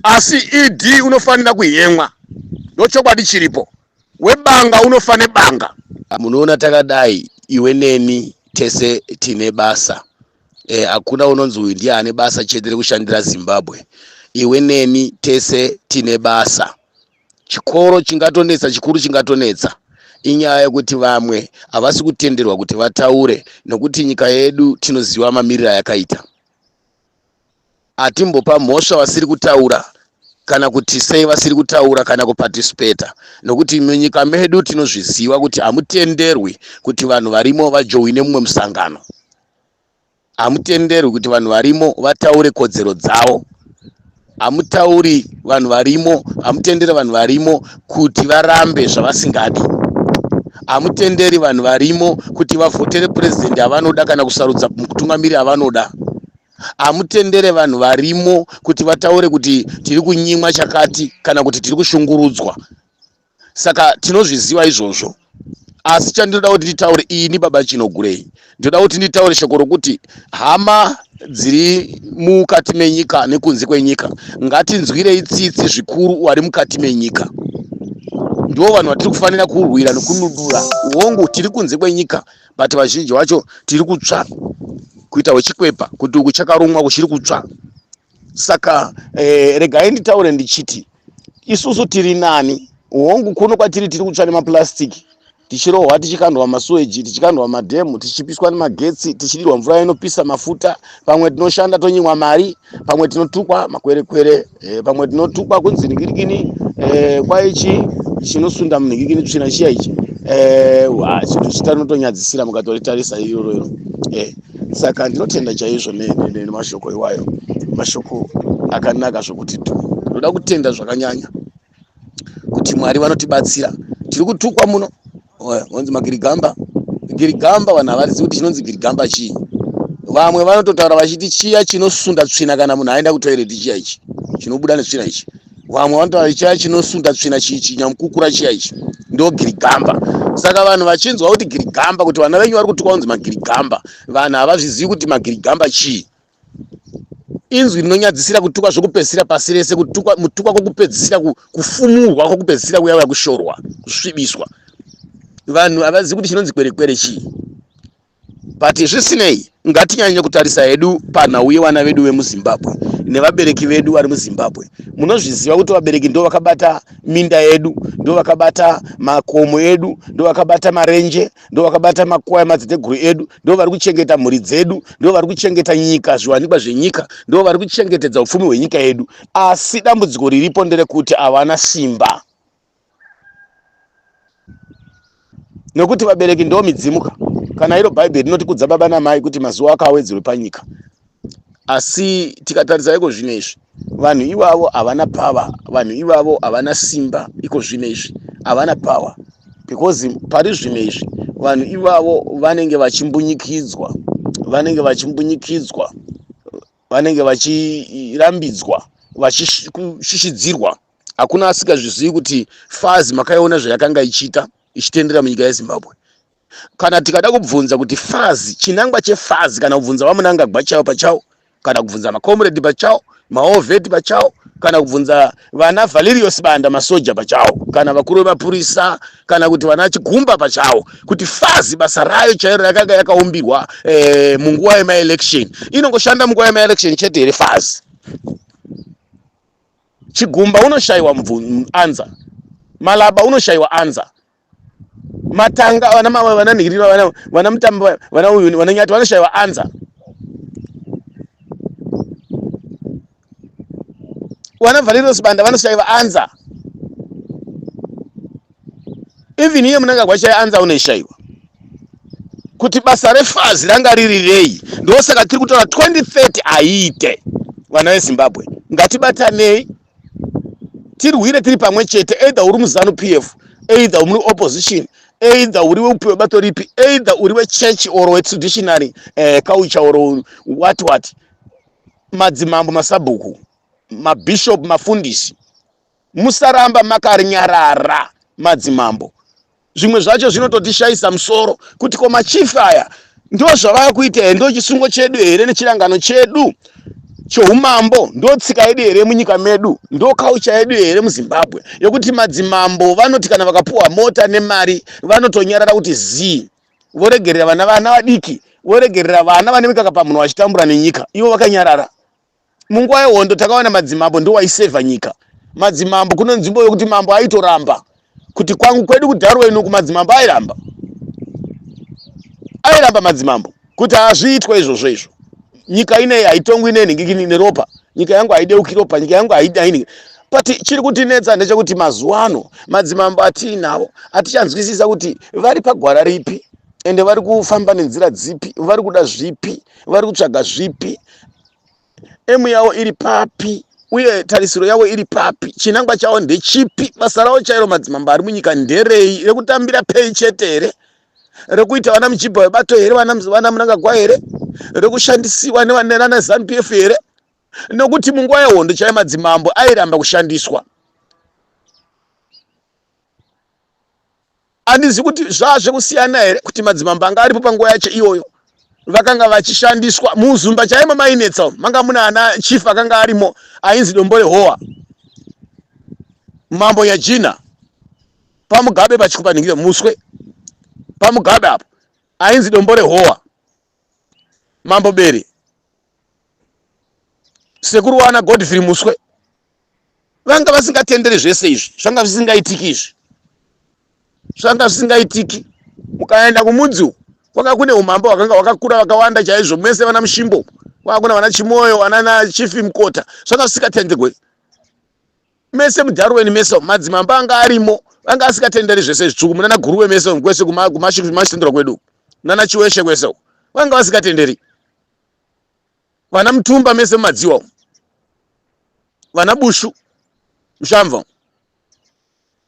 asi ed unofanira kuhemwa ndochokwadi chiripo webanga unofa nebanga munoona takadai iwe neni tese tine basa eh, hakuna e, unonzi uyu ndiye ane basa chete rekushandira zimbabwe iwe neni tese tine basa chikoro chingatonetsa chikuru chingatonetsa inyaya yekuti vamwe havasi kutenderwa kuti vataure nokuti nyika yedu tinoziva mamiriro ayakaita atimbopa mhosva vasiri kutaura kana kuti sei vasiri kutaura kana kuparticipata nokuti munyika medu tinozviziva kuti hamutenderwi kuti vanhu varimo vajoine mumwe musangano hamutenderwi kuti vanhu varimo vataure kodzero dzavo hamutauri vanhu varimo hamutendere vanhu varimo kuti varambe zvavasingadi hamutenderi vanhu varimo kuti vavhotere purezidendi avanoda kana kusarudza mutungamiri avanoda hamutendere vanhu varimo kuti vataure kuti tiri kunyimwa chakati kana kuti tiri kushungurudzwa saka tinozviziva izvozvo asi chandinoda kuti nditaure ini baba chinogurei ndinoda kuti nditaure shoko rokuti hama dziri mukati menyika nekunze kwenyika ngatinzwirei tsitsi zvikuru wari mukati menyika ndivo vanhu vatiri kufanira kurwira nekunudura hongu tiri kunze kwenyika but vazhinji vacho tiri kutsva kuita wechikwepa kuti uku chakarumwa kuchiri kutsva saka eh, regai nditaure ndichiti isusu tiri nani hongu kuno kwatiri tiri kutsva nemaplastic tichirohwa tichikandwa masuweji tichikandwa madhemu tichipiswa nemagetsi tichidirwa mvura inopisa mafuta pamwe tinoshanda tonyimwa mari pamwe tinotukwa makwerekwere eh, pamwe tinotukwa kunzi nigirikini eh, kwaichi chinosunda munhingikini tsvina chiya ichi eh, wa, chinhu chitanotonyadzisira mukatoretarisa iroro iro eh, saka ndinotenda chaizvo ne- ne- ne- nemashoko iwayo mashoko akanaka zvokuti tu ndoda kutenda zvakanyanya kuti mwari vanotibatsira tiri kutukwa muno vonzi magirigamba girigamba vanhu havarizivi kuti chinonzi girigamba chii vamwe vanototaura vachiti chiya chinosunda tsvina kana munhu aenda kutoireti chiya ichi chinobuda netsvina ichi vamwe vanotaura chiya chinosunda tsvina chichi nyamukukura chiya ichi ndo girigamba saka vanhu vachinzwa kuti girigamba kuti vana venyu vari kutukwa kunzi magirigamba vanhu havazvizivi kuti magirigamba chii inzwi rinonyadzisira kutukwa zvokupedzisira pasi rese kutukwa mutukwa kwokupedzisira kufumurwa kwokupedzisira kuya uya kushorwa kusvibiswa vanhu havazivi kuti chinonzi kwerekwere chii but zvisinei ngatinyanye kutarisa hedu panhau yevana vedu vemuzimbabwe nevabereki vedu vari muzimbabwe munozviziva kuti vabereki ndo vakabata minda yedu ndo vakabata makomo edu ndo vakabata marenje ndo vakabata makwai madziteteguru edu ndo vari kuchengeta mhuri dzedu ndo vari kuchengeta nyika zviwanikwa zvenyika ndo vari kuchengetedza upfumi hwenyika yedu asi dambudziko riripo nderekuti havana simba nekuti vabereki ndo midzimuka kana iro bhaibheri rinotikudza baba namai kuti mazuva akawedzerwe panyika asi tikatarisa iko zvino izvi vanhu ivavo havana power vanhu ivavo havana simba iko zvino izvi havana power because pari zvino izvi vanhu ivavo vanenge vachimbunyikidzwa vanenge vachimbunyikidzwa vanenge vachirambidzwa vachishishidzirwa hakuna asingazvizivi kuti fazi makaiona zvayakanga ichiita ichitendera munyika yezimbabwe kana tikada kubvunza kuti fazi chinangwa chefazi kana kubvunza vamunangagwa chavo pachavo kana kubvunza macomrade pachavo maovheti pachavo kana kubvunza vana valerios banda masoja pachavo kana vakuru vemapurisa kana kuti vana chigumba pachavo kuti fazi basa rayo chairo yakanga yakaumbirwa eh, munguva yemaelection inongoshanda munguva yemaelection chete here fazi chigumba unoshayiwa anza malaba unoshayiwa anza matanga vana mama vana nhirira vana vana mutambo vana uyu vana nyati vanoshaiwa anza vana valerio sibanda vanoshaiwa anza even iye munangagwa shaya anza unoishaiwa kuti basa refazi ranga riri rei ndosaka tiri kutaura 2030 aiite vana vezimbabwe ngatibatanei tirwire tiri pamwe chete either uri muzanu p f either uri opposition either uri weupiwe bato ripi either uri wechurch or wetraditionary eh, culture or what what madzimambo masabhuku mabishop mafundisi musaramba makarinyarara madzimambo zvimwe zvacho zvinototishayisa musoro kuti ko machief aya ndozvavava kuita here ndochisungo chedu here nechirangano chedu choumambo ndotsika yedu here munyika medu ndokaucha yedu here muzimbabwe yokuti madzimambo vanoti kana vakapuwa mota nemari vanotonyarara kuti zii voregerera vana vana vadiki voregerera vana vane mikaka pamunhu vachitambura nenyika ivo vakanyarara munguva yehondo takawana madzimambo ndiwo aisevha nyika madzimambo kune nzvimbo yokuti mambo aitoramba kuti kwangu kwedu kudharwa inoku madzimambo airamba airamba madzimambo kuti hazviitwa izvozvo izvo nyika ineyi haitongwi nenhingikini neropa nyika yangu haideuki ropa nyika yangu haidaini but chiri kutinetsa ndechekuti mazuva ano madzimambo atiinawo atichanzwisisa kuti vari pagwara ripi ende vari kufamba nenzira dzipi vari kuda zvipi vari kutsvaga zvipi emu yavo iri papi uye tarisiro yavo iri papi chinangwa chavo ndechipi basa ravo chairo madzimambo ari munyika nderei rekutambira pei chete here rekuita vana muchibha webato here vana munangagwa here rekushandisiwa nevanana zanup f here nokuti munguva yehondo chaiyo madzimambo airamba kushandiswa Handizivi kuti zvaa zvekusiyana here kuti madzimambo anga aripo panguva yacho iyoyo vakanga vachishandiswa muzumba chaimo mainetsa manga muna ana chief akanga arimo ainzi dombole howa mambo nyajina pamugabe pachikupanhingire muswe pamugabe apo ainzi dombole howa mambo bere sekuru wana godfrey muswe vanga vasingatenderi zvese izvi zvanga zvisingaitiki izvi zvanga zvisingaitiki mukaenda kumudzi uku kwanga kune umambo hwakanga hwakakura vakawanda chaizvo mese vana mushimbo kwanga kuna vana chimoyo vanana chifi mukota zvanga zvisingatenderwe mese mudarweni mese madzimambo anga arimo anga asikatenderi zvese zvitsvuku munana guruwe mese kwese kumashandura kwedu nana chiweshe kwese vanga vasikatenderi vana mutumba mese mumadziwa vana bushu mushamva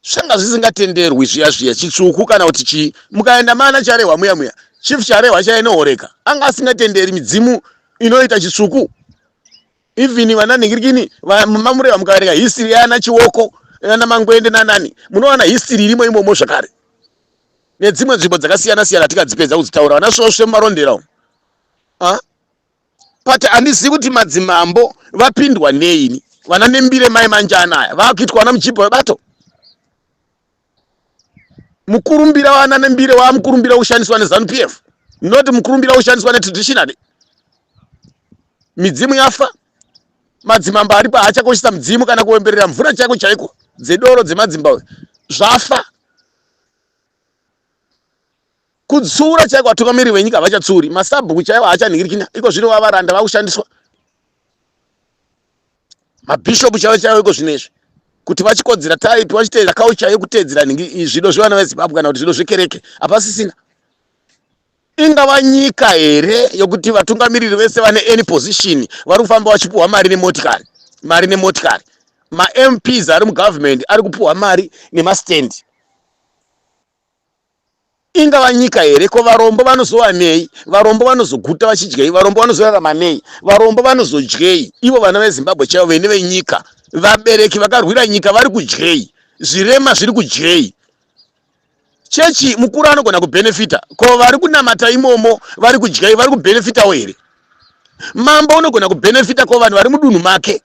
zvanga zvisingatenderwi zviya zviya chitsvuku kana kuti chii mukaenda mana charehwa muya muya chief charehwa chainohoreka anga asingatenderi midzimu inoita chitsvuku even vana nhingirikini mamureva mukaverenga history yana chioko yana mangwende nanani munowana history irimo imomo zvakare nedzimwe nzvimbo dzakasiyana siyana tikadzipedza kudzitaura vana svosve mumarondera umu ah? but handizivi kuti madzimambo vapindwa neini vana nembire mai manjana aya vakuitwa vana muchibho webato mukurumbira wana nembire wamukurumbira ushandiswa nezanu p f not mukurumbira ushandiswa netraditionally midzimu yafa madzimambo aripo haachakoshesa mudzimu kana kuwemberera mvura chaiko chaiko dzedoro dzemadzimba zvafa Kutsiura chaiko vatungamiriri venyika havachatsiuri, masabhuku chaiwo haachanhingirikina, iko zvino vavaranda vakushandiswa mabhishopu chaiwo chaiwo iko zvino izvi kuti vachikodzera taipi vachiteera kaucha yekuteedzera nhingi zvido zvevana vezimbabwe kana kuti zvido zvekereke hapasisina ingava nyika here yokuti vatungamiriri vese vane any position vari kufamba vachipuhwa mari nemotikari mari nemotikari mamps ari mugovernment ari kupuhwa mari nemastandi Ingava nyika here? Ko varombo vanozowanei? Varombo vanozoguta vachidyei? Varombo vanozorarama nei? Varombo vanozodyei? Ivo vana veZimbabwe chaivo vene venyika, vabereki vakarwira nyika vari kudyei? Zvirema zviri kudyei? Chechi mukuru anogona kubhenefita, ko vari kunamata imomo vari kudyei? Vari kubhenefitawo here? Mambo unogona kubhenefita, ko vanhu vari mudunhu make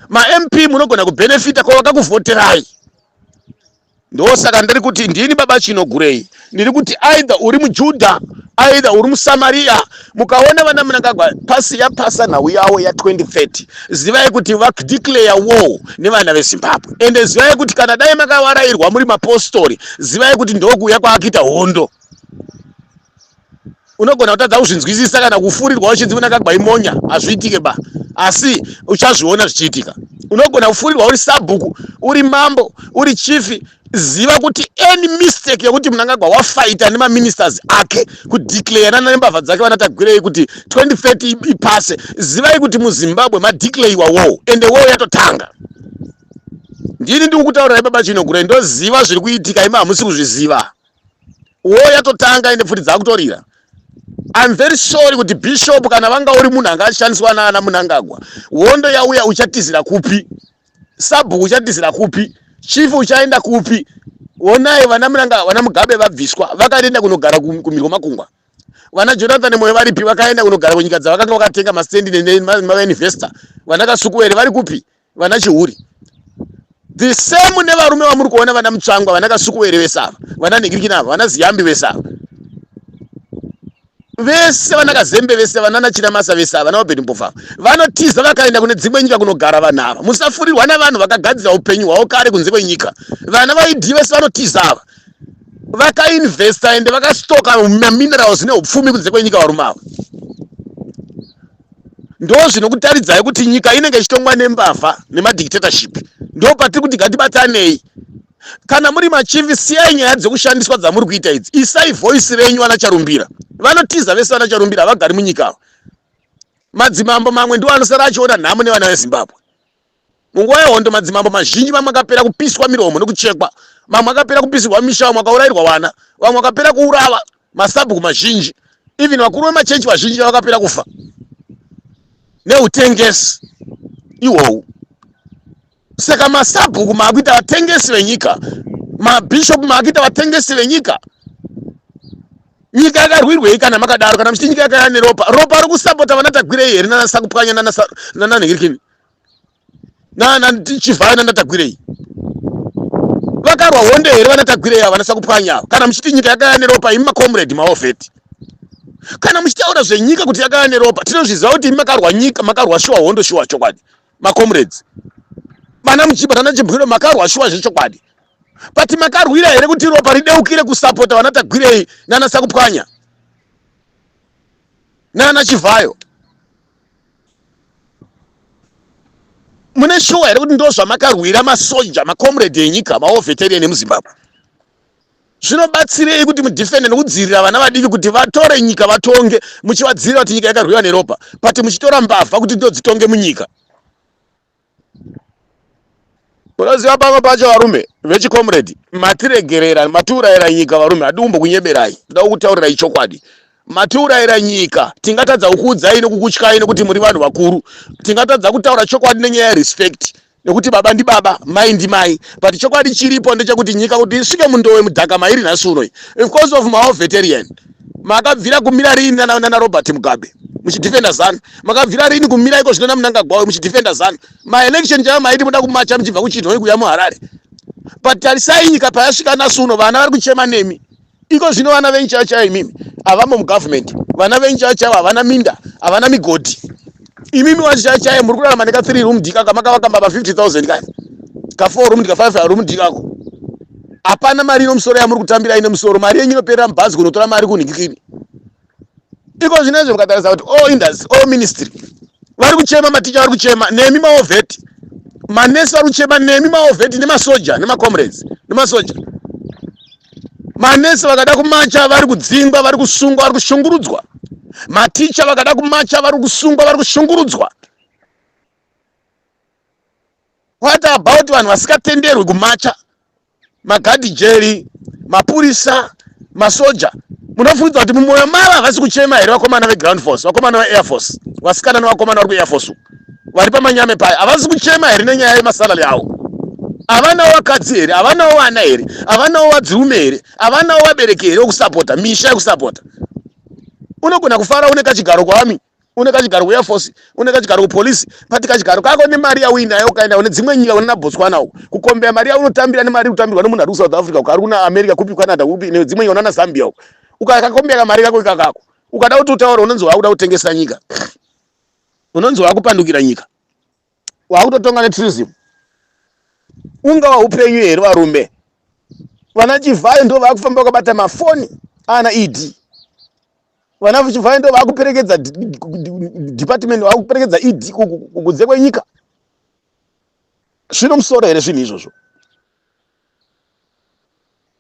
mamp munogona kubenefita kwavakakuvhoterai ndosaka ndiri kuti ndini baba chinogurei ndiri kuti aidha uri mujudha aidha uri musamariya mukaona vana munangagwa pasi yapasa nhau yavo ya 2030 zivai kuti vadeclare war nevana vezimbabwe ende zivai kuti kana dai makavarairwa muri mapostori zivai kuti ndokuuya kwaakuita hondo unogona kutadza kuzvinzwisisa kana kufurirwa uchinzi kuna kagwai monya hazviitike ba asi uchazviona zvichiitika unogona kufurirwa uri sabhuku uri mambo uri chifi ziva kuti any mistake yekuti munangagwa wafaita nemaministers ake kudeclayana nembavha dzake vanatagwirei kuti 2030 ipase zivai kuti muzimbabwe madeclayiwa woo ende woo yatotanga ndini ndikukutaurirai baba chinogurai ndoziva zviri kuitika imi hamusi kuzviziva wo yatotanga ende pfuti dzakutorira I'm very sorry kuti bishop kana vanga uri munhu anga achishandiswa naana munangagwa hondo yauya uchatizira kupi sabhuku uchatizira kupi chief uchaenda kupi onai vana munanga vana mugabe vabviswa vakaenda kunogara kumirwa makungwa vana jonathan moyo varipi vakaenda kunogara kunyika dzavakanga vakatenga mastendi nemainvestor vanakasukuwere vari kupi vana chihuri the same nevarume vamuri kuona vana mutsvangwa vana kasukuwere vese ava vana nigirikini ava vana ziyambi vese ava vese vana kazembe vese vana nachina masa vese ava vana vabheni mbovha vanotiza vakaenda kune dzimwe nyika kunogara vanhu ava musafurirwa navanhu vakagadzira upenyu hwavo kare kunze kwenyika vana vaidi vese vanotiza ava vakainvesta ende vakastoka maminerals neupfumi kunze kwenyika varume ava ndozvinokutaridzai kuti nyika inenge ichitongwa nembavha nemadictatorship ndopatiri kuti gatibatsanei kana muri machivi siyai nyaya dzekushandiswa dzamuri kuita idzi isai voice renyu vana charumbira vanotiza vese vana charumbira havagari munyika avo madzimambo mamwe ndiwo anosara achiona nhamo nevana vezimbabwe Munguva yehondo, madzimambo mazhinji mamwe akapera kupiswa miromo nekuchekwa, mamwe akapera kupisirwa misha, vamwe vakaurairwa vana, vamwe vakapera kuurava, masabhuku mazhinji, even vakuru vemachechi vazhinji vakapera kufa neutengesi ihwohu. Saka masabhuku maakuita vatengesi venyika, mabhishopu maakuita vatengesi venyika. Nyika yakarwirwei kana makadaro? Kana muchiti nyika yakaya neropa, ropa rokusapota vana Tagwirei here nana Sakupwanya nana Nhirikini? nanachivhaya nanatagwirei vakarwa honde here vanatagwirei ava vanasakupwanya ava kana muchiti nyika yakaya neropa imi macomrade maovheti kana muchitaura zvenyika kuti yakaya neropa tinozviziva kuti imi makarwa nyika makarwa shuwa hondo shuwa chokwadi macomrades vana muchiba tana chibwiro makarwa shuwa zvechokwadi but makarwira here kuti ropa rideukire kusapota vana tagwirei nana sakupwanya nana chivhayo mune shuwa here kuti ndozvamakarwira masoja macomrade enyika maoveterian emuzimbabwe zvinobatsirei kuti mudefende nekudzivirira vana vadiki kuti vatore nyika vatonge muchivadzivirira kuti nyika yakarwiwa neropa but muchitora mbavha kuti ndodzitonge munyika unoziva pamwe pacho varume vechicomrade matiregerera matiurayira nyika varume hadi kumbokunyeberai ndoda kukutaurirai chokwadi matiurayira nyika tingatadza kukuudzai nekukutyai nekuti muri vanhu vakuru tingatadza kutaura chokwadi nenyaya yerespect nekuti baba ndibaba mai ndimai but chokwadi chiripo ndechekuti nyika kuti isvike mundowe mudhaka mairi nhasi unoyi because of maoveterian makabvira kumira rini nana, nana robert mugabe muchidefenda zanu makabvira rini kumira iko zvino namunangagwawe muchidefenda zanu maelection chaiva maiti muda kumacha muchibva kuchinhoi kuya muharare but tarisai nyika payasvika nasi uno vana vari kuchema nemi iko zvino vana venyu chaiva chaiva imimi havamo mugovernment vana venyu chaiva chaiva havana minda havana migodhi imimi wachishaya chaye muri kurarama neka 3 room dika kamakavaka mbaba 50000 kaya ka 4 room dika 5 room dika ko hapana mari ino musoro yamuri kutambira ine musoro mari yenyu inoperera mubhazi kunotora mari kunhikikini iko zvino izvo mukatarisa kuti all industry all ministry vari kuchema maticha vari kuchema nemi maovheti manesi vari kuchema nemi maovheti nemasoja nemacomrades nemasoja manesi vakada kumacha vari kudzingwa vari kusungwa vari kushungurudzwa maticha vakada kumacha vari kusungwa vari kushungurudzwa what about vanhu vasikatenderwi kumacha magadhi jeri mapurisa masoja munofungidzwa kuti mumwoyo mavo havasi kuchema here vakomana veground force vakomana veair force vasikana nevakomana vari kuair force uku vari pamanyame paya havasi kuchema here nenyaya yemasalary avo havanawo vakadzi here havanawo vana here havanawo vadzirume here havanawo vabereki here okusapota misha yekusapota unogona kufara une kachigaro kwaami une kachigaro kuair force une kachigaro kupolice but kachigaro kako nemari yauinayo ukaenda une dzimwe nyika unena botswana uko kukombea mari yaunotambira nemari kutambirwa nemunhu ari kusouth africa uko ari kuna america kupi canada kupi nedzimwe nyika unana zambia uko ukakakombea kamari kako ikakako ukada kuti utaura unonzi wakuda kutengesa nyika unonzi wakupandukira nyika wakutotonga netrism ungava upenyu here varume vana chivhayo ndo vakufamba vakabata mafoni ana ed vana chivhayo ndo vakuperekedza department vakuperekedza ed kunze kwenyika zvino musoro here zvinhu izvozvo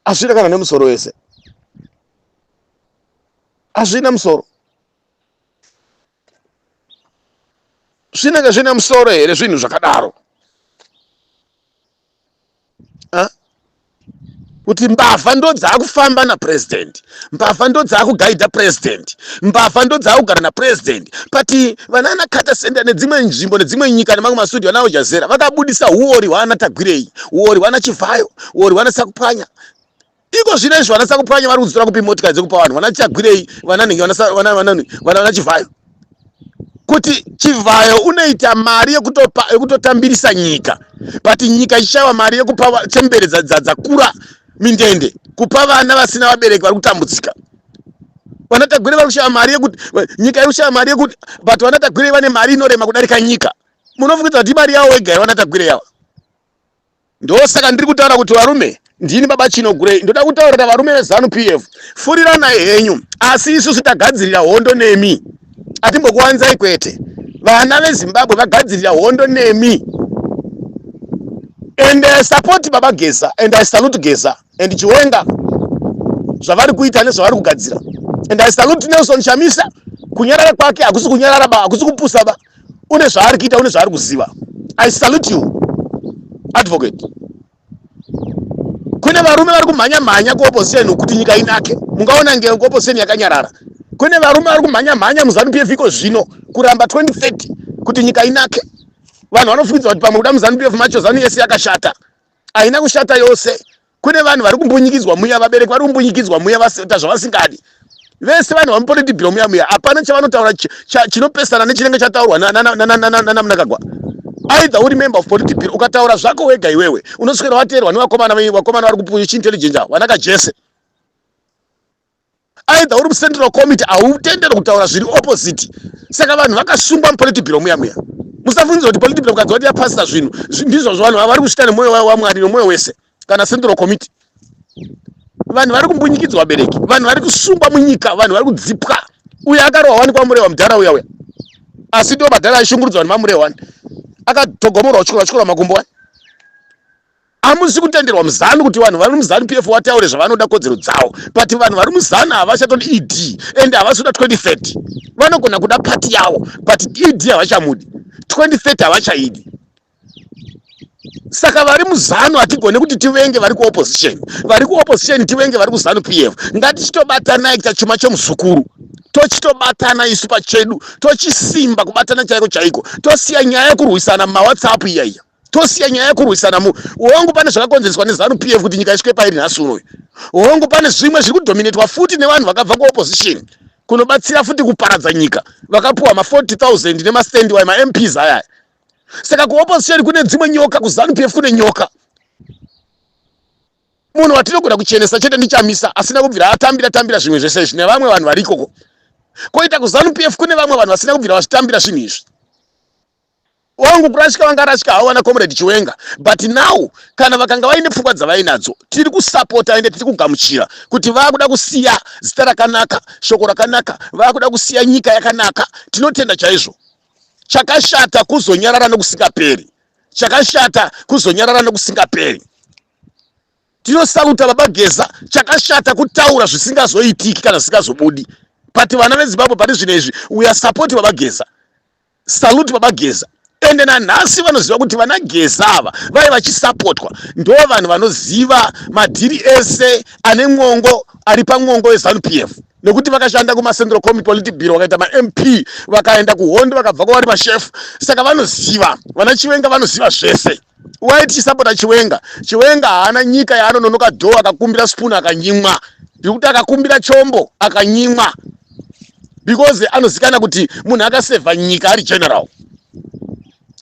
hazvina kana nemusoro wese hazvina musoro zvinenge zvine musoro here zvinhu zvakadaro kuti mbavha ndo dzaakufamba napurezidendi mbavha ndo dzaakugaidha purezidendi mbavha ndo dzaakugara napurezidendi but vanaana kata senda nedzimwe nzvimbo nedzimwe nyika nemamwe masudio navo jazera vakabudisa huori hwaana tagwirei huori hwaana chivhayo huori hwaana sakupwanya iko zvino izvo vana sakupwanya vari kudzitora kupi motikari dzekupa vanhu vana chagwirei vananhingi vana chivhayo kuti chivhayo unoita mari yekutotambirisa nyika but nyika ichishaiwa mari yekupa chembere dzakura mindende kupa vana vasina vabereki vari kutambudzika vana tagwirei vari kushaya mari yekuti nyika iri kushaya mari yekuti but vana tagwirei vane mari inorema kudarika nyika munofungidza kuti imari yavo wega here vana tagwirei ava ndosaka ndiri kutaura kuti varume ndini baba chino gurei ndoda kutaurira varume vezanu p f furiranai henyu asi isusu tagadzirira hondo nemi atimbokuwanzai kwete vana vezimbabwe vagadzirira hondo nemi and i support baba geza and i salute geza and chiwenga zvavari kuita nezvavari kugadzira and i salute nelson shamisa kunyarara kwake hakusi kunyarara ba hakusi kupusa ba une zvaari kuita une zvaari kuziva i salute you advocate kune varume vari kumhanya mhanya kuopposition kuti nyika inake mungaona nge kuopposition yakanyarara kune varume vari kumhanya mhanya muzanu pf iko zvino kuramba 2030 kuti nyika inake vanhu vanofukidza kuti pamwe kuda muzanu pf macho zanu yese yakashata haina kushata yose kune vanhu vari kumbunyikidzwa muya vabereki vari kumbunyikidzwa muya vaita zvavasingadi vese vanhu vamupolitibhiro muya muya hapana chavanotaura chinopesana nechinenge chataurwa nanamunakagwa aidha uri member of politibhiro ukataura zvako wega iwewe unoswera wateerwa nevakomana vakomana vari kupuisha intelligence avo vanaka jese aidha uri mucentral committee hautendere kutaura zviri opposite saka vanhu vakasungwa mupolitibiro muya muya musafungiza kuti political mukadzi wati yapasita zvinhu ndizvo zvavanhu vavari kuchita nemwoyo wavo wamwari nemwoyo wese kana central committee vanhu vari kumbunyikidzwa vabereki vanhu vari kusungwa munyika vanhu vari kudzipwa uyo akarohwa wani kwamurehwa mudhara uya uya asi ndiwo madhara aishungurudzwa vanhu mamurehwa wani akatogomorwa uchikora uchikora makumbo wani Amusi kutenderwa muzanu kuti vanhu vari muzanu PF wataure zvavanoda kodzero dzawo but vanhu vari muzanu havachatodi ED and havasuda 2030 vanogona kuda party yawo but ED havachamudi 2030 havachaidi saka vari muzanu hatigone kuti tivenge vari kuopposition vari kuopposition tivenge vari kuzanu PF ngatichitobatanai kuita chuma chomuzukuru tochitobatana isu pachedu tochisimba kubatana chaiko chaiko tosiya nyaya yekurwisana mumawhatsapp iyaiya tosiya nyaya yekurwisana mu hongu pane zvakakonzereswa nezanu p f kuti nyika isvike pairi nhasi unoyu hongu pane zvimwe zviri kudominatwa futi nevanhu vakabva kuopposition kunobatsira futi kuparadza nyika vakapiwa ma 40 000 nemastandi wayo mamps ayaya saka kuopposition kune dzimwe nyoka kuzanu p f kune nyoka munhu watinogona kuchenesa chete ndichamisa asina kubvira atambira tambira zvimwe zvese izvi nevamwe vanhu varikoko koita kuzanu p f kune vamwe vanhu vasina kubvira vazvitambira zvinhu izvi wangu kurashika vangarashika havo vana comrade chiwenga but now kana vakanga vaine pfungwa dzavainadzo tiri kusapota ende tiri kugamuchira kuti vakuda kusiya zita rakanaka shoko rakanaka vakuda kusiya nyika yakanaka tinotenda chaizvo chakashata kuzonyarara nokusingaperi chakashata kuzonyarara nokusingaperi tinosaruta baba geza chakashata kutaura zvisingazoitiki kana zvisingazobudi but vana vezimbabwe pari zvino izvi we are support baba geza Salute baba Geza ende nanhasi vanoziva kuti vana Geza ava vave vachisapotwa ndo vanhu vanoziva madhiri ese ane mwongo ari pamwongo weZanu PF nekuti vakashanda kumaCentral Committee Politi Bureau vakaita maMP vakaenda kuhondo vakabva kwavari mashefu saka vanoziva vana Chiwenga vanoziva zvese why tichisapota chiwenga chiwenga haana nyika yaanononoka dho akakumbira spoon akanyimwa ndikuti akakumbira chombo akanyimwa because anozikana kuti munhu akasevha nyika ari general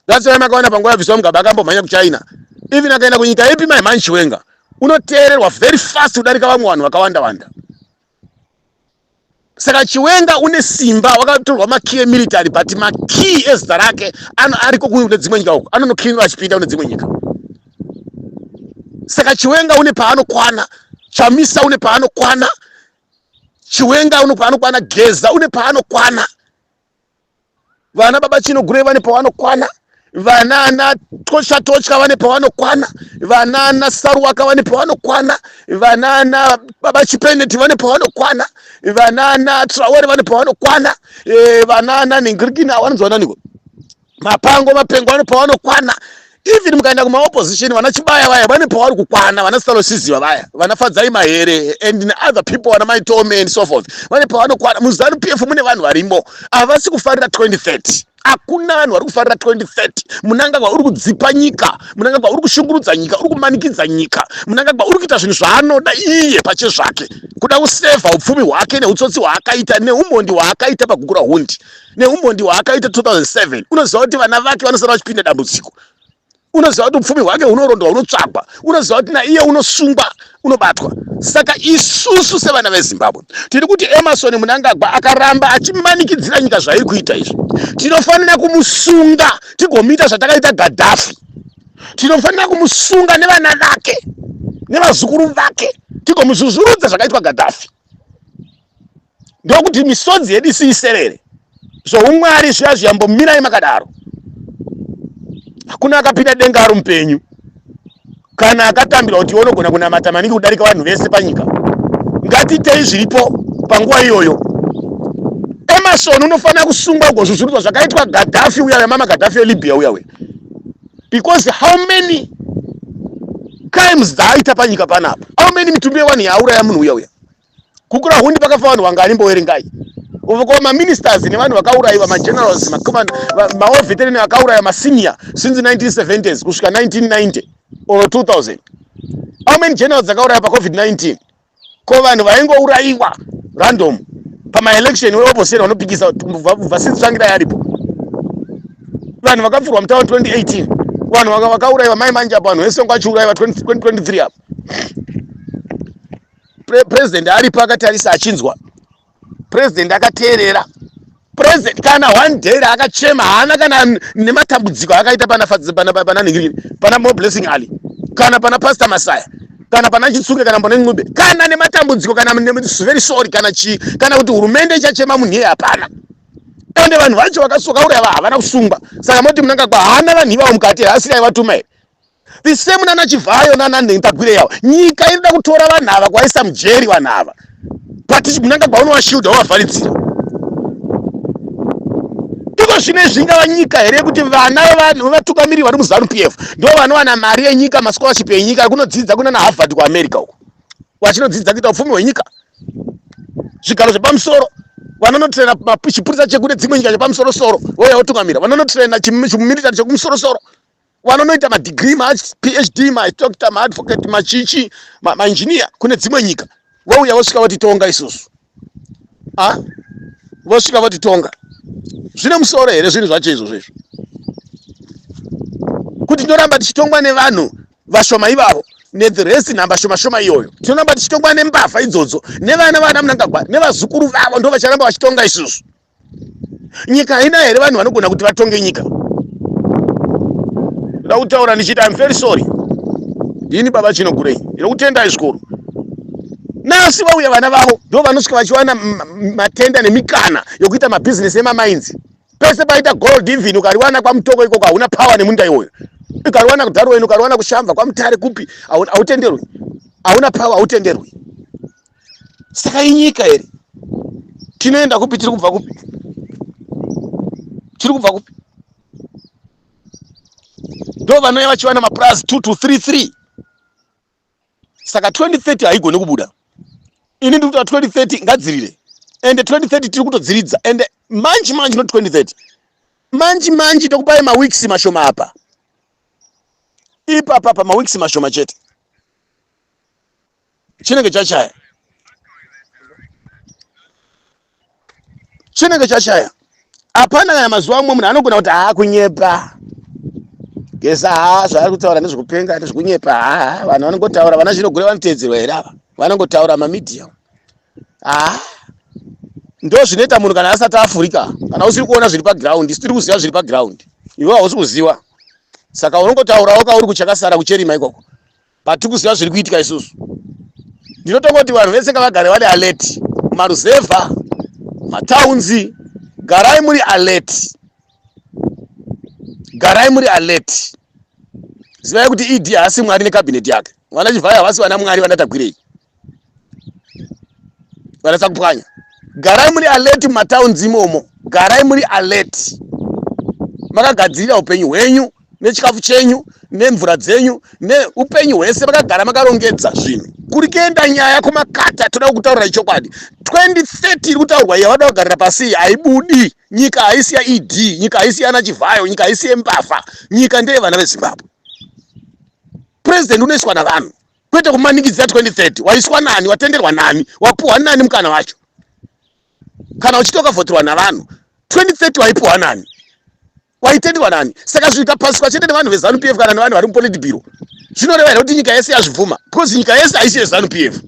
that's why makaona panguva yabviswa mugaba akambomhanya kuchina even akaenda kunyika ipi my man chiwenga unoteererwa very fast kudarika vamwe vanhu vakawanda wanda saka chiwenga une simba wakatorwa makey emilitary but makey ezita rake ariko kune dzimwe nyika uko anonoklinwa achipinda kune dzimwe nyika saka chiwenga une paanokwana chamisa une paanokwana chiwenga une paanokwana geza une paanokwana vana baba chino gure vane pavanokwana vana ana tosha tocha vane pavanokwana vana ana saruwaka vane pavanokwana vana ana baba chipeneti vane pavanokwana vana ana traore vane pavanokwana eh, vana ana ningirikina vanonzwa naniko mapango mapengo vane pavanokwana even mukaenda kumaopposition vana chibaya vaya vane pavari kukwana vana stalosiziva vaya vana fadzai mahere and other people vana maitome and so forth vane pavanokwana muzanu p f mune vanhu varimo havasi kufarira 2030 hakuna vanhu vari kufarira 2030 munangagwa uri kudzipa nyika munangagwa uri kushungurudza nyika uri kumanikidza nyika munangagwa uri kuita zvinhu zvaanoda iye pache zvake kuda kusevha upfumi hwake neutsotsi hwaakaita neumhondi hwaakaita pakukura hundi neumhondi hwaakaita 2007 unoziva kuti vana vake vanosara vachipinda dambudziko unoziva kuti upfumi hwake hunorondwa hunotsvagwa unoziva kuti naiye unosungwa unobatwa saka isusu sevana vezimbabwe tiri kuti emarson munangagwa akaramba achimanikidzira nyika zvairi kuita izvi tinofanira kumusunga tigomuita zvatakaita gadhafi tinofanira kumusunga nevana vake nevazukuru vake tigomuzvuzvurudza zvakaitwa gadhafi ndokuti misodzi yedu isiiserere zvoumwari zviya zviyambomirai makadaro hakuna akapinda denga ari mupenyu kana akatambirwa kuti unogona kunamata maningi kudarika vanhu vese panyika ngatiitei zviripo panguva iyoyo emarson unofanira kusungwa kugozvuzvurudzwa zvakaitwa gadhafi uya wemama gadhafi elibya uya uya because how many crimes dzaaita panyika panapa how many mitumbi yewani yaauraya munhu uya uya kukura hundi pakafa vanhu vangani mbowerengai uko maministers nevanhu vakaurayiwa magenerals maoveterin vakauraya masenior since 1970s kusvika 1990 or 2000 how many generals dzakauraya pacovid-19 ko vanhu vaingourayiwa random pamaelection weoposera vanopikisa vhasisi tsvangira yaripo vanhu vakapfurwa mutawa 2018 vanhu vakaurayiwa mai manje apo vanhu vese vangu vachiurayiwa 2023 apo Pre president aripo akatarisa achinzwa president akateerera president kana one day akachema haana kana nematambudziko akaita pana pana pana ningiri pana more blessing ali kana pana pastor masaya kana pana chitsunge kana pana ncube kana nematambudziko kana very sorry kana chi kana kuti hurumende ichachema munhu iye hapana ende vanhu vacho vakasoka uri ava havana kusungwa saka moti munangagwa haana vanhu ivavo mukati haasiri aivatuma here the same nana chivhayo nana nhentagwire yavo nyika inoda kutora vanhu ava kwaisa mujeri vanhu ava but munanga gwaunowashiuda wavharidzira iko zvino izvi ingava nyika here yekuti vana vevanhu vevatungamiri vari muzanu p f ndo vanowana mari yenyika mascholarship yenyika yekunodzidza kunana harvard kuamerica uko vachinodzidza kuita upfumi hwenyika zvigaro zvepamusoro vanonotrena chipurisa chekune dzimwe nyika chepamusoro soro vouya votungamira vanonotrena chimilitary chekumusorosoro vanonoita madegree maphd madoctor maadvocate machichi maengineer kune dzimwe nyika vauya vosvika votitonga isusu a ah, vosvika votitonga zvine musoro here zvinhu zvacho izvozvo izvo kuti tinoramba tichitongwa nevanhu vashoma ivavo nethe rest nhamba shoma shoma iyoyo tinoramba tichitongwa nembavha idzodzo nevana vana munangagwa nevazukuru vavo ndo vacharamba vachitonga isusu nyika haina here vanhu vanogona kuti vatonge nyika ndoda kutaura ndichiti im very sorry ndini baba chino gurei ndinokutendai zvikuru nasi vauya vana vavo ndo vanosvika vachiwana matenda nemikana yokuita mabhizinesi emamainzi pese paita gold even ukariwana kwamutoko ikoko hauna power nemunda iwoyo ukariwana kudarweni ukariwana kushamva kwamutare kupi hautenderwi hauna power hautenderwi saka inyika here tinoenda kupi tiri kubva kupi tiri kubva kupi ndo vanouya vachiwana mapurazi two to three three saka 2030 haigoni kubuda ini ndiri kutaa 2030 ngadzirire ende 2030 tiri kutodziridza ende manji manji not 2030 manji manji tokupai maweeks mashoma apa ipapa pamaweeks mashoma chete chinenge chashaya chinenge chashaya hapana kana mazuva amwe munhu anogona kuti haa kunyepa gesa haa zvaari kutaura nezvekupenga nezvekunyepa haa vanhu vanongotaura vana zvinogure vanotedzerwa here ava vanongotaura mamedia haa ndo zvinoita munhu kana asati afurika kana usiri kuona zviri paground isu tiri kuziva zviri paground iwe hausi kuziva saka unongotaurawo kauri kuchakasara kucherima ikoko Patikuziva zviri kuitika isusu. Ndinotonga kuti vanhu vese ngavagare vari alert. Maruzevha, mataunzi, garai muri alert. Garai muri alert. Zivai kuti ED haasi mwari nekabineti yake. Vana Chivhayo havasi vana mwari vanatagwirei. vanatsa kupwanya garai muri alert mumatowns imomo garai muri alert makagadzirira upenyu hwenyu nechikafu chenyu nemvura dzenyu neupenyu hwese vakagara makarongedza zvinhu kuri kuenda nyaya kumakata toda kutaurira ichokwadi 2030 iri kutaurwa yavada kugarira pasi haibudi nyika haisi yaed nyika haisi yana chivhayo nyika haisi yembavha nyika ndeye vana vezimbabwe purezidenti unoiswa navanhu kwete kumanikidzira 2030 waiswa nani watenderwa nani wapuhwa nani mukana wacho kana uchitoka vhoterwa navanhu 2030 waipuhwa nani waitenderwa nani saka zvikapasiswa chete nevanhu vezanup f kana nevanhu vari mupolitibiro zvinoreva here kuti nyika yese yazvibvuma because nyika yese haisi yezanup f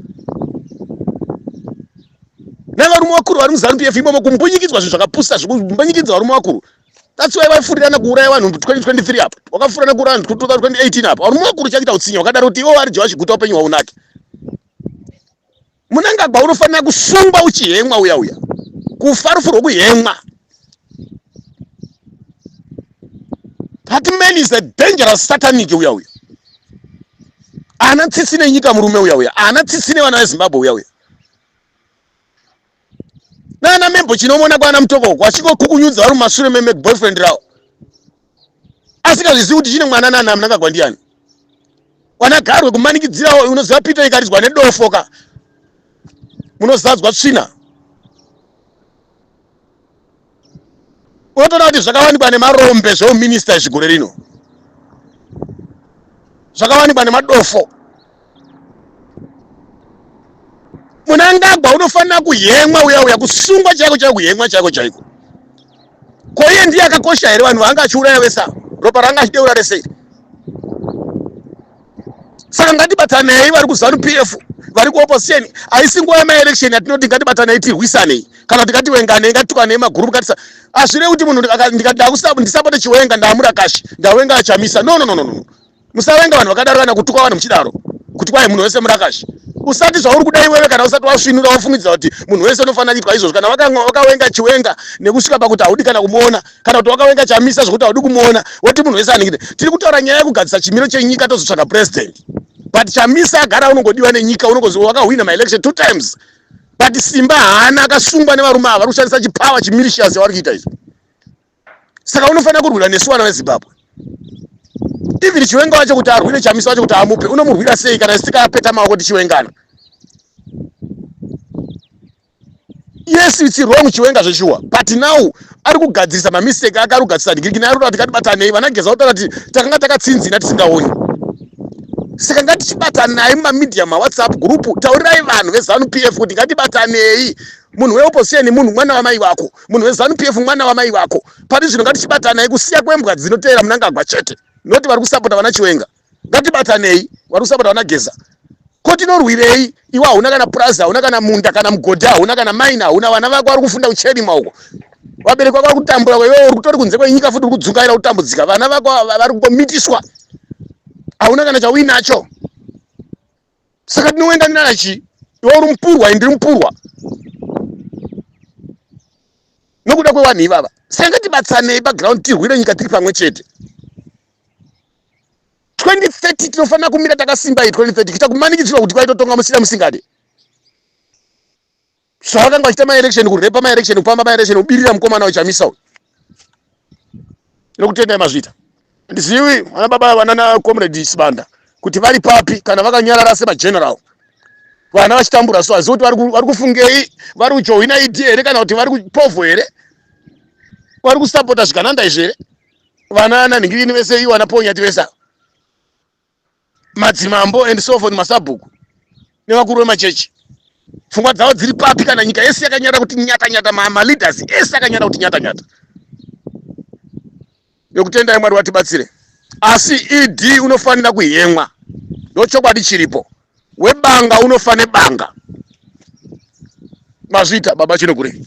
nevarume vakuru vari muzanup f imomo kumbunyikidzwa zvinhu zvakapusa zvikumbanyikidzwa varume vakuru That's why waifurirana kuuraya vanhu 2023 apa. Wakafurirana kuuraya vanhu 2018 apa. Uri mukuru chakuita utsinye wakadaro kuti iwo ari Joash Guta upenyu hwaunake. Munangagwa unofanira kusungwa uchihemwa uya uya. Kufa rufu rwokuhemwa. That man is a dangerous satanic uya uya. Ana tsitsi nenyika murume uya uya. Ana tsitsi nevana veZimbabwe uya uya. nana membo chinomona kwana mutokoko achingokukunyudza vari mumashure meme boyfriend rawo asingazvizivi kuti chine mwana nana mnangagwa ndiyani wanagarwe kumanikidzirawo unoziva peter ikaridzwa nedofo ka munozadzwa tsvina unotoona kuti zvakawanikwa nemarombe zveuminista izvi gore rino zvakawanikwa nemadofo munangagwa unofanira kuhemwa uya uya kusungwa chaiko chaiko kuhemwa chaiko chaiko ko iye ndiye akakosha here vanhu vaanga achiuraya vese ropa ranga achideura resei saka ngatibatanei vari kuzanu p f vari kuopposition haisi nguva yemaelection yatinoti ngatibatanei tirwisanei kana kuti ngatiwenganei ngatitukwanei magurupu ngatisa hazvirevi kuti munhu ndisapote chiwenga ndaamura kashi ndawenga achamisa no no no no musawenga vanhu vakadaro kana kutuka vanhu muchidaro kuti kwai munhu wese murakashi usati zvauri kuda iwewe kana usati wasvinura wafungidzira kuti munhu wese unofanira kuitwa izvozvo kana wakawenga chiwenga nekusvika pakuti haudi kana kumuona kana kuti wakawenga chamisa zvekuti haudi kumuona woti munhu wese aningine tiri kutaura nyaya yekugadzisa chimiro chenyika tozotsvaga president but chamisa agara unongodiwa nenyika unongozi wakahwina maelection two times but simba haana akasungwa nevarume ava vari kushandisa chipower chimilitias yavari kuita izvo saka unofanira kurwira nesu vana vezimbabwe even chiwenga wacho kuti arwire chamisa wacho kuti amupe unomurwira sei kana sitikapeta maoko tichiwengana yes it's wrong chiwenga zveshuwa but now ari kugadzirisa mamistake ake ari kugadzirisa ndigiriki naye arikuda kuti ngatibatanei vanageza kutaura kuti takanga takatsinzina tisingaoni saka ngatichibatanai mumamedia mawhatsapp group taurirai vanhu vezanup f kuti ngatibatanei munhu weopposition munhu mwana wamai vako munhu wezanup f mwana wamai vako pari zvino ngatichibatanai kusiya kwembwa dzinoteera munangagwa chete noti vari kusapota vana chiwenga ngatibatanei wari kusapota vana geza ko tinorwirei iwe hauna kana purazi hauna kana munda kana mugodhi hauna kana maina hauna vana vako vari kufunda kuchedima uko vabereki vako vari kutambura ko iwe uri kutori kunze kwenyika futi uri kudzungaira kutambudzika vana vako vari kungomitiswa hauna kana chauinacho saka ndinoenda ndinana chii iwe uri mupurwa ndiri mupurwa nokuda kwevanhu ivava saka ngatibatsanei paground tirwire nyika tiri pamwe chete 2030 tinofanira kumira takasimba iyi 2030 kuita kumanikidzirwa kuti kwaitotonga musina musingade Zvavakanga vachita ma election kurepa ma election kupamba ma election kubirira mukomana wechamisa uyu. Nokutenda mazvita. Ndizivi vana baba vana na comrade Sibanda kuti vari papi kana vakanyarara sema general. Vana vachitambura so azivi kuti vari kufungei vari kujoina ED here kana kuti vari kupovo here vari kusapota zvikananda izvi here vana nanhingiriri vese ivo vana ponyati vese ava madzimambo and sofon masabhuku nevakuru vemachechi pfungwa dzavo dziri papi kana nyika yese yakanyata kuti nyata nyata maleaders ese akanyata kuti nyata nyata yokutendai mwari vatibatsire asi ed unofanira kuhemwa ndochokwadi chiripo webanga unofa nebanga mazvita baba chinokurei